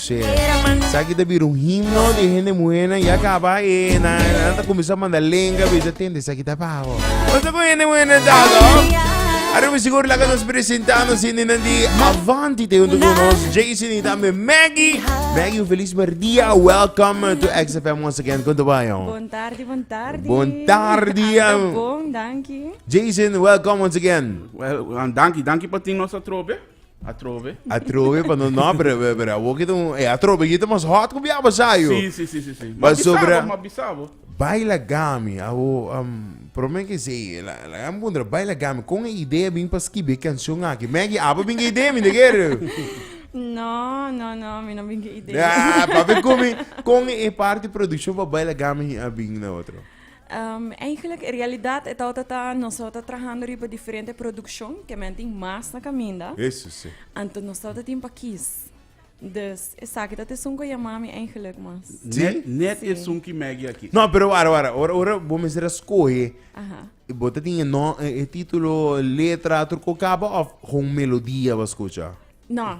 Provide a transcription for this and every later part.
Che. Sa aki ta bira un himno di hende muhénan ya kaba e nan nan ta kuminsá manda lenga bisa tende esaki ta papo. Pasobra ku hende muhénan ta aso Around mi sigur laga nos presentá nos hindenan di Avante te huntu ku nos Jason i tambe Maggie. Maggie un felis mèrdia welcome to XFM once again kon ta bai ho. Bon tardi, bon tardi. Bon tardi, Anta am. bon, danki. Jason welcome once again. Well, an danki, danki pa tin nos atrobe. Atrobe. Atrobe pa no no pero pero pero abo kita un eh atrobe kita mas hot ku biaba sayo. Sí, sí, sí, sí, sí. Ba sobra ma bisabo. Baila gami abo um, prome ke sei la la am bundra baila gami kon e idea bin pa skibi kanshon aki. Maggie abo bin ke idea mi de kere. No, no, no, mi no bin ke idea. Ah, papi kumi kon e parti produksjon pa baila gami a bin na otro. Eigenlijk, realidat e tabata ta nos tabata trahando riba diferente produccion, ke men tin mas na kaminda. Eso si. Anto nos tabata tin pa kies. Dus, esaki tat esun ku yama mi eigenlijk mas. Si. Net esun ki Maggie a kisa. No, pero wara, wara. Ora, ora bo mester a skohe, Aha. bo ta tin e no, e titulo, letra, tur ku kaba of gon melodia bo a skucha? No,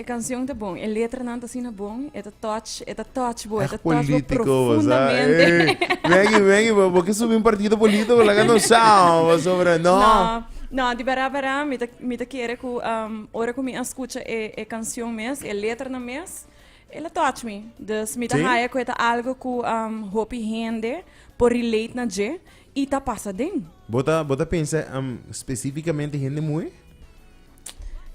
E canción ta bon, e letranan ta asina bon, e ta touch, e ta touch bo, e ta touch bo profundamente. Wengi, wengi, bo ke subi un partido político, laga no sao, sobre no. No, no, di bera bera, mi ta, mi ta kere ku, um, ora ku mi a skucha e, e canción mes, e letranan mes, el a touch mi. Dus mi ta haya ku e ta algo ku, um, hopi hende por relate na dje, i ta pasa den. Bo ta, bo ta pensa, um, specificamente hende muhe?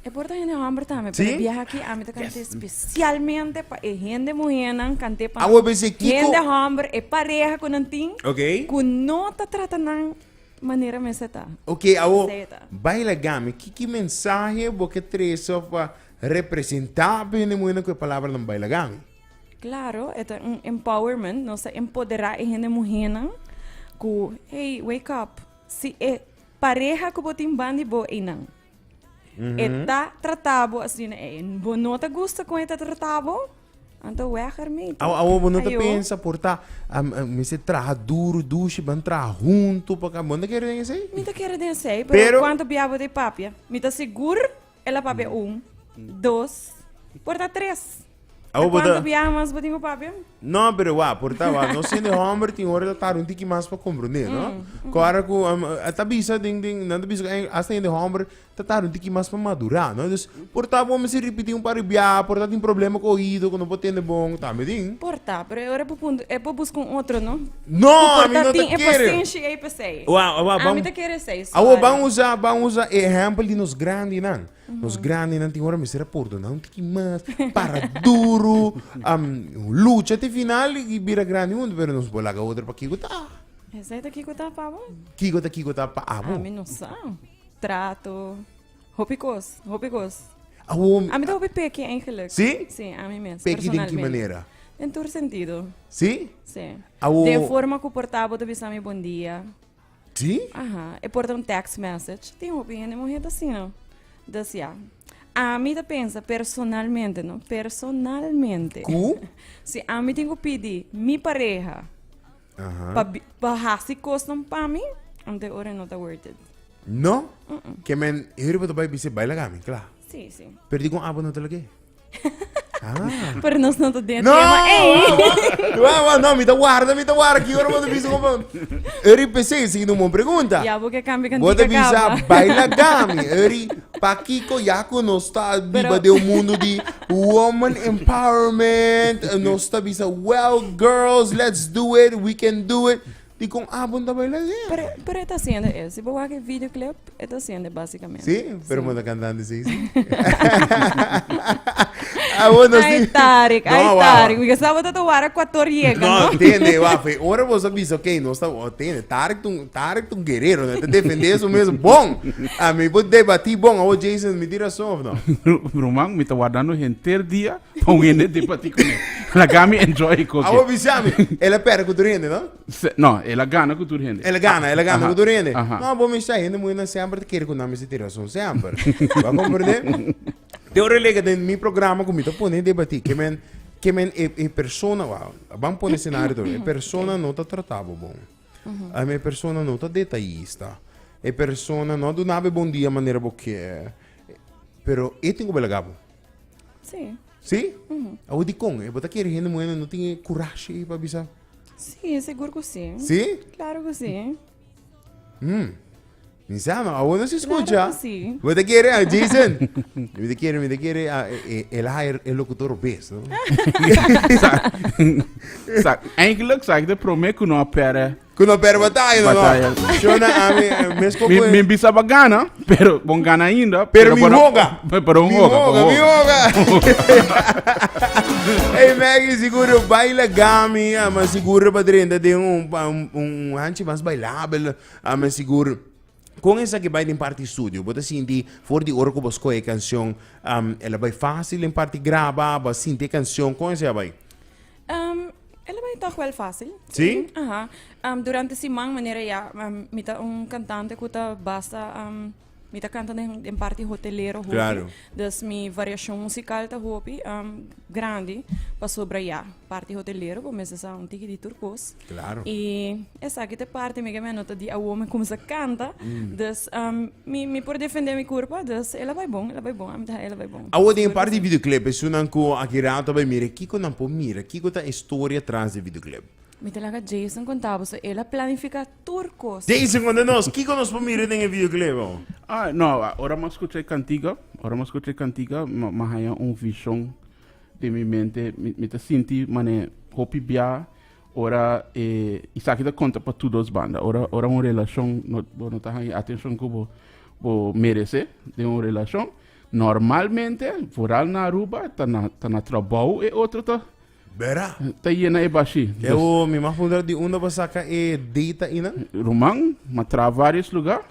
E por ta hende homber tambe, pero biaha aki ami ta kante specialmente pa e hende muhernan, kante pa Awo bese kiko- hende homber, e pareha ku nan tin, Ok. ku no ta trata nan manera mester ta. Oké, awo, Esei ta. baila gami. Ki ki mensahe bo ke trese of a representá pa hende muhernan ku e palabranan baila gami? Claro, e ta un empowerment, nos ta empoderá e hende muhernan ku, hey, wake up, si e Pareha ku bo tin bandi bo einan. E ta trata bo asina. E, bo no ta gusta kon e ta trata bo? Anto weg ermee toch. Awo, awo, bo no ta Ayo. pensa por ta, am, am, mi se traha duro, dushi, ban traha hunto, pa ka, bo no ta kere den esei? Mi ta kere den sei, pero, Pero- cuanto bia bo de papia? Mi ta segur El a papia un, dos, por ta tres. A Awo cuánto bota. biaha mas bo tin cu papia? No, pero wa, por ta wa. No siendo hombre tin hora ta tar un tiki mas pa comprende, no? Cora cu um, ta bisa den den nan ta bisa cu eh, hasta yende hombre ta tar un tiki mas pa madura, no? Dus por ta bo mester ripiti un par di biaha, por ta tin problema cu oido cu no por tende bon, tambe tin. Por ta, pero e ora e bo punto, e bo busca un otro, no? No, Cu por ami ta no ta tin e kere. postenshi ei pesei? Wa, wa, Ami ban- ta kere esei, Awo sorry. ban usa, ban usa e ehempel di nos grandinan. Nos grandinan tin ora mester a pordona un tiki mas, para duru, am, lucha te final i bira grandi huntu, pero nos por laga otro pa kiko ta. Esei ta kico ta, pabo? Kiko ta, kiko ta pa abo. Ami no sa. Trato. Hopi cos, hopi cos. Awor. Ami ta hopi peki eigenlijk. Si? Si, ami mes. Peki den ki manera? Den tur sentido. Si? Si. Awor. Den forma cu por ta bo ta bisa mi bondia. Si? Aha. E por ta un text message. Tin hopi hende muhe ta asina. Dus ya. Ami ta pensa personalmente, no, personalmente. Cu? si ami tin cu pidi mi pareha. Pa, pa hasi custom pa mi, ante ora no ta worth it. No? Mm -mm. Ke men, heri bo ta bai bise, bai lagami, kla. Si, si. Per di kon abo no ta lagé? Ah. Pero nos no te no, Wa, wa, no, mi te guarda, mi te guarda. Ki ora bote bisa kompa. Eri pese, si no mon pregunta. Ya, porque cambia kan Bote bisa, baila gami. Eri, Pakiko ya ku nos ta biba den un mundu di woman empowerment, nos ta bisa well girls let's do it, we can do it, dikon abo no ta baila asina? Pero pero e ta siende e, si bo wak e video clip e ta siende basikamente. Sí, pero bo no ta kantandi así. Abo nos Ai di. Tarik, ai No, wawa. Tarik, because abo ta wara Ecuador yega, No, no? tende, wafe. Ora bo sa bisa, ok, nos ta, oh, tende, Tarek tun Tarek ta un guerrero, no? Ta defende eso mes bon. A mi bo debati bon, awo Jason, mi di razon of no? Bruman, mi ta wardando henter dia pa un hende debati cu me. Laga mi enjoy e coke. Awo bisa mi, el a perde cu tur hende, no? Se, no, el a gana cu tur hende. El a gana, el a gana cu tur hende. No, bo mi sa, hende muhernan semper ta kere cu nan mester tin razon, semper. Bo a comprende? Te ora lega den mi programa cu mi ta pone debati, ke men, ke men e, e persona, wou, a ban pone scenario, e persona no ta trata bo bon. Am e persona no ta detayista. E persona no a dunabo e bon dia manera bo kier. Pero e tin ku bai laga bo. Sí. Sí? Awe dikon? E bo ta kere hende muhé no tin e kurashi pa bisa? Sí, sigur ku sí. Sí? Klaro ku sí. Mi sa, ma awor nos escucha. Claro que sí. Mi ta kere, ah, Jason. Mi ta kere, mi ta kere, ah, e, e, el hire el locutor bes, no? Sa, eigenlijk sa ik de prome ku no pere. Ku no pere bataya, no? Bataya. Shona, ah, mi, eh, mes Mi como... mi bisa ba gana, pero bon gana ainda. Pero mi bona- hoga. Pe- Pero un Mi hoga, hoga, bon mi hoga. Hey Maggie, seguro baila gami, ah, mas seguro pa drenta de un, pa un, un hanchi mas bailabel. A mi sigur con esaki bay den parti estudio bo ta sinti for di ora cu bo scoge e cancion el a bay facil den parti graba bo a sinti e cancion con esaki a bay? Um, el a bay toch wel facil. Si? Aha. Um, durante siman manera ya mi ta un cantante cu ta basta um. Mi ta canta den, den parti hotelero hopi. Claro. Dus mi variacion musical ta hopi um, grandi pasobra ya, parti hotelero bo mester sa un tiki di tur cos. Claro. Y esaki te parti mi ke me nota di awor mi comensa canta. Mm. Dus um, mi, mi por defender mi curpa, dus ela bai bon, ela bai bon, am ta ela bai bon. Awor den parti di videoclip, es unan cu aki rato bai mira, kiko nan por mira, kiko ta e story atras di videoclip? Mi ta laga Jason conta bo, so ela planifica tur cos. Dei si conta nos kico nos por mira den e videoclip oh. Ah no ora m'a scucha e cantica ora m'a scucha e cantica m'a haya un vision den mi mente mi ta sinti mane hopi bia ora e isaki ta conta pa tur dos banda ora ora un relacion no bo no ta haya e atencion cu bo bo merece den un relacion normalmente vooral na Aruba ta na ta na trabou e otro ta Bera? Ta yena e bashi. Ewo, mi mag puntra di unda bo saca e data inan? Ruman, ma traha varios luga.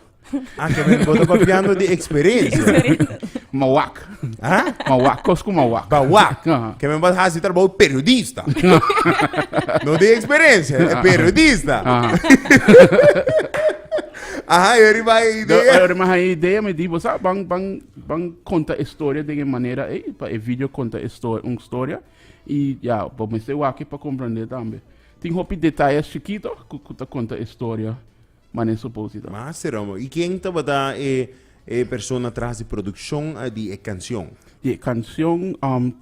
Ah, kebel, bo ta papiando di experencia. Ma wak. Ha? Ma wak, cos cu ma wak. Ba wak. Aha. Kebel bo ta haci trabao periodista. no di experencia, e periodista. Aha, yo riba e Do, idea. ora ma ha e idea, mi di, bo sa, ban, ban, ban conta e storia den e manera ei, pa e video conta e sto- un storia. Y ya, bo mester wak-e pa comprende tambe. Tin hopi detayes chikito cu, cu ta conta e storia mane e suppose ta. Mas te rome. Y ken tabata e, e persona tras di produccion di e cancion? Di e cancion, um,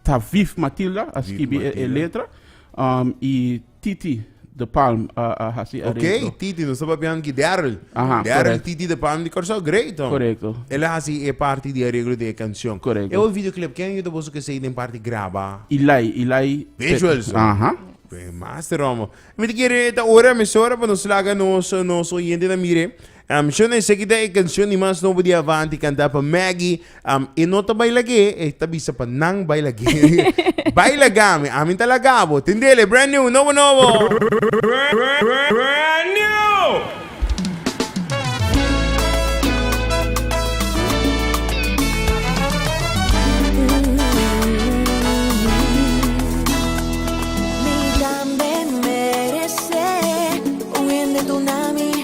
ta Viv Matilda a Viv skibi e, e Matilda. letra, um, y. Titi de Palm a, a hasi Ok, arreglo. Titi, nos ta papiando aquí Daryl. Ajá, Daryl, correcto. Titi de Palm de Curaçao, great. oh. Correcto. Él a haci e parte di arreglo di e canción. Correcto. E otro videoclip, ken a yuda boso cu esei den parte graba? Ilai, Ilai. Visuals. oh. Aha. Goeiemeister, homo. Mi ta kere ta ora, mesora, pa nos laga nos, nos oyente na mire. Am shona e seguida e cancion di mas nobo di Avanti canta pa Maggy, am e no ta baila gué, e ta bisa pa nan baila gué. Baila game, ami ta laga bo. Tindele, brand new, nobo nobo! Brand new! Mi tambe merece un hende tuna mi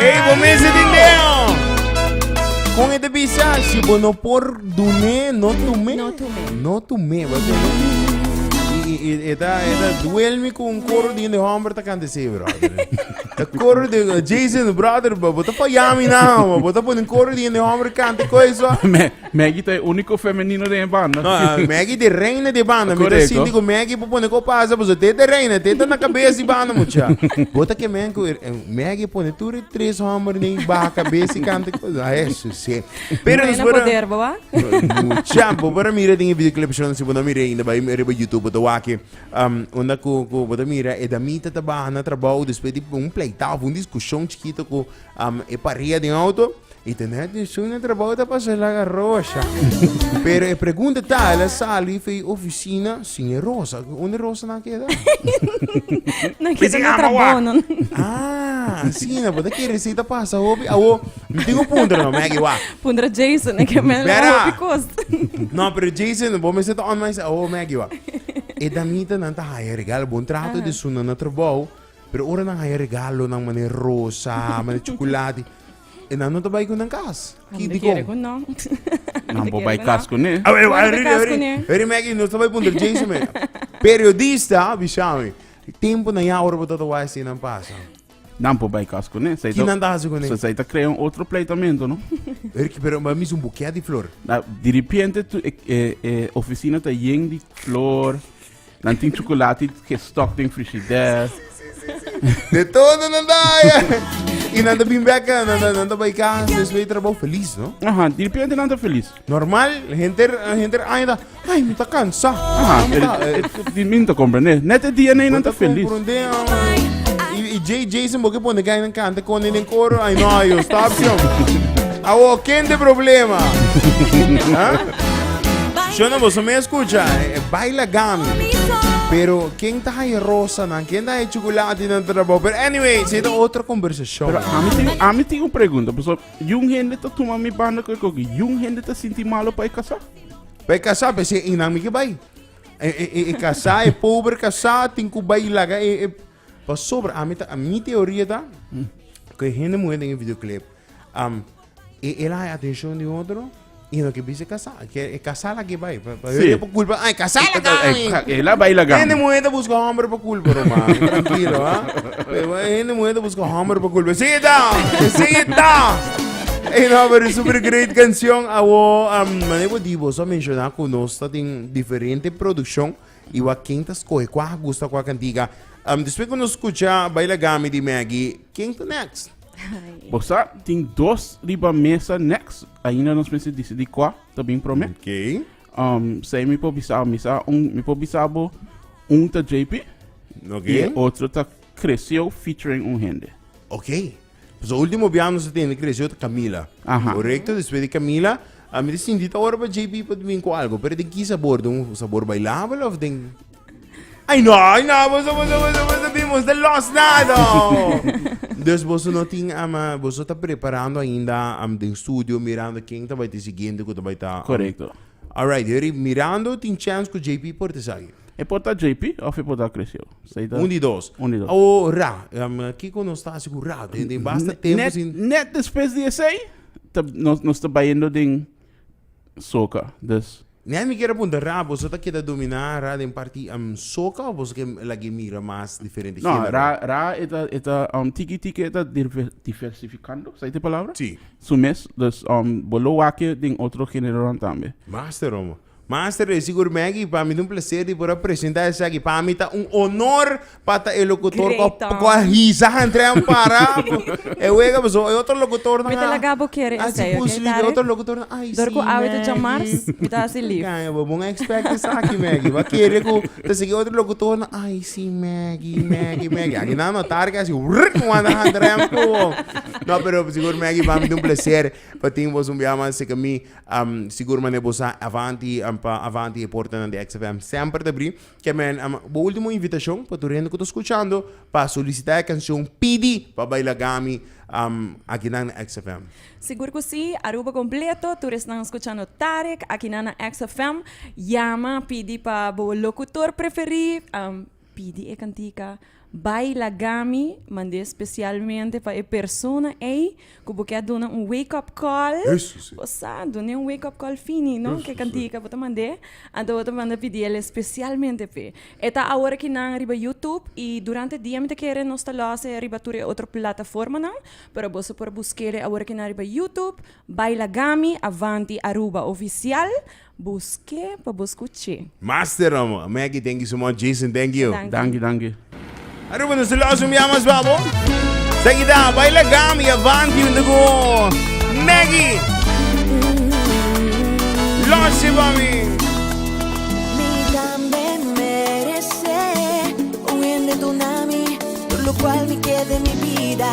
Ey, bo mester tin deo. Con este visa, si bo no por dune, no tume. No tume. No tume, bo te Y, y, y esta, esta duelme con un coro de hombre ta cante sí, brother. El coro de uh, Jason, brother, bo bo te fallami na, bo bo te pone un coro de hombre cante coisa. Me- Maggie ta e unico femenino den e banda. No, ah, Maggie de reina de banda. Mi ta Correcto. sinti ku Maggie por pone ko pasa, pues te ta reina, te ta na kabes di banda mucha. Bota ke men ku eh, Maggie pone tur e tres homber nei ba kabes i kanta cosa. Ah, eso sí. Pero Reina después poder, boa. Mucha, bo para mira den e videoclip shon si bo no mira ainda, bai riba YouTube bota waki. Um, onda ku ku bota mira e damita ta baha na trabao después di un pleitao, un discusión chiquito ku Um, e paria den auto y tene atención na trabajo ta pasa el haga rosa. Pero e pregunta ta, el sali fe oficina sin e rosa. Onde rosa na queda? no queda na trabajo. No. Ah, sí, no, porque que receta pasa, hopi. Awo, me tengo punto, no, me wa. Punto Jason, que me la hopi cost. No, pero Jason, vos me zet on mais, awo, me wa. E damita nanta haya regal, bon trato de su nana trabajo. Pero ora nan haya regalonan manera rosa, manera chuculati, e nan no ta bai cu nan cas. Ki Nan no dicon? quiere con nan. Nan por bai cas cu ne. Awe, Bueno, awe, bekas awe, kuné. awe, Maggie, nos ta bai puntra Jason me. Periodista, bisa mi. Tempo na ya ora bo tata wai si nan pasa. Nan por bai cas cu ne. Sa e Ki nan ta hasi cu ne? so sa e ta crea un otro pleitamento, no? Pero, ki- pero ba mis un buquet di flor. Da, di repente tu e, e, e oficina ta yen di flor. Nan tin chocolate ke stock den frigider. De todo nan da ya. Y nan ta bin back, eh, nan, nan, nan ta bai casa, después de trabajo feliz, ¿no? Aha, di repente nan ta feliz. Normal, gente, gente aña da, ay, me ta cansa. Aha, Ay, me ta, eh, el, di min ta comprende. Net e dia nee nan ta feliz. comprende, ah. Y, y Jay Jason, porque pone que hay en canta con en coro, ay, no, yo, stop, yo. Awo ken te problema? Huh? Shona boso me escucha, eh, eh, baila gami. Pero ken ta hai rosa nan, ken ta hai chocolate nan trabo. Pero anyway, si ta otro conversacion. Pero a mi tin, a mi tin un pregunta, paso yun hende ta tuma mi banda ku e koki, yun hende ta sinti malo pa e kasá? Pe casa pe se inan mi ke bai. E e e, e casa e pobre casa tin ku bai laga e e Pasobra ami ta, mi teoria ta cu e hende muhe den e videoclip um, e, el a haña atencion di otro y no ke bisa e casá, e kier e casá la ke bai, pa, pa Sí. hende por culpa, ah, e casá la gan, Eh, eh, eh, el a bai la gan. Hende muhe ta busca homber pa culpa roman, trankilo, ha. Pero e hende muhe ta busca homber pa culpa, sí ta, sí ta. Ey no, pero e super great cancion, awo, um, mane bo di, bo sa menciona cu nos ta den diferente produccion, I wak ken ta skohe kua a gusta kua kantika. Um despues ku nos skucha Baila Gami di Maggy, ken ta next? Bo sa tin dos riba mesa next, ainda nos mester disidi kua ta bin prome. Okay. Um sei mi por bisa mi sa un mi por bisa bo un ta JP Okay. y otro ta Cresceo featuring un hende. Okay. Pasobra ultimo bia nos a tende kresio ta Camila. Aha. Korekto, despues di Camila, a mi ta sinti ta ora pa JP pa bini ku algo, pero den ki sabor? Den un sabor bailabel of den... Ay no, ay no, boso, boso, boso, boso, bin, boso ta los nada. Dus boso no tin, am, ah, boso ta preparando ainda, am, den studio, mirando ken ta bai ta e siguiente ku ta bai ta... am, Korekto. Alright, Herib, mirando tin chance cu JP por ta esaki. E por ta JP of e por ta Cresceu. Sa ta. Un di dos. Un di dos. O Ra. Um, kico nos ta haci cu Ra? Den, den basta tempo Net, sin... net despues di esey, ta, nos, nos ta bayendo den soca. Dus, Nel, mi kier a punta Ra, boso ta keda domina Ra den parti um, soca of boso ke lag'e mira mas diferente no, genero? Ra, Ra e ta, e ta, um, tiki tiki e ta dirve- diversificando, sa ta e palabra? Si. Su mes, dus bo lo wake den otro generonan tambe. Master omo. Master e sigur Maggie, pa mi ta un placer di por a presenta esaki. Pa mi ta un honor pa ta e locutor cu a cu a hisa hantrera a para cu e wega pasobra e otro locutornan Mi ta laga bo kere esaki, ok, Tari? a haci pusli cu e otro locutornan ay si Dor cu awe ta djamars, Maggie. mi ta haci lief. Kanga bo, bo no a expect esaki Maggie. Bo a kere cu ta sigui e otro locutornan ay si Maggie, Maggie, Maggie. Aki nan no, Tari cu a haci wrrrk wanta hantrera cu bo. No, pero sigur Maggie, pa mi ta un plecer pa tin bos un bia mas cerca mi. Am, sigur manera bo sa, avanti, am, pa avanti e portanan di XFM semper ta bri. Ke men, am, bo ultimo invitacion pa tur hende cu ta scuchando pa solicita e cancion Pidi pa baila Gami, am, akinan na XFM. Sigur cu si, Aruba completo, tur esnan scuchando Tarek akinan na XFM, yama, pidi pa bo locutor preferi, am, Pidi e cantica Bai Lagami mand'é especialmente pa e persona ey cu bo kier duna un wake up call. Eso si. Bo sa, dun'é un wake up call fini, no? Eso si. K'e cantica bo ta mand'é, anto bo ta manda pidi el especialmente p'e. E ta awor aki nan riba YouTube y durante dia mi ta kere nos ta los'e riba tur e otro plataformanan, pero boso por busk'e awor aki nan riba YouTube, Bai Lagami, Avanti Aruba Oficial. Busk'é pa bo skuch'é. Master amo a Maggie thank you so much Jason thank you. Danki danki. Aruba nos ta losa un bia mas pa bo. Ta kita baila gam y avanti hunto cu Maggie. Losa pa mi. Mi tambe merece un hende duna mi tur lo cual mi kede mi bida.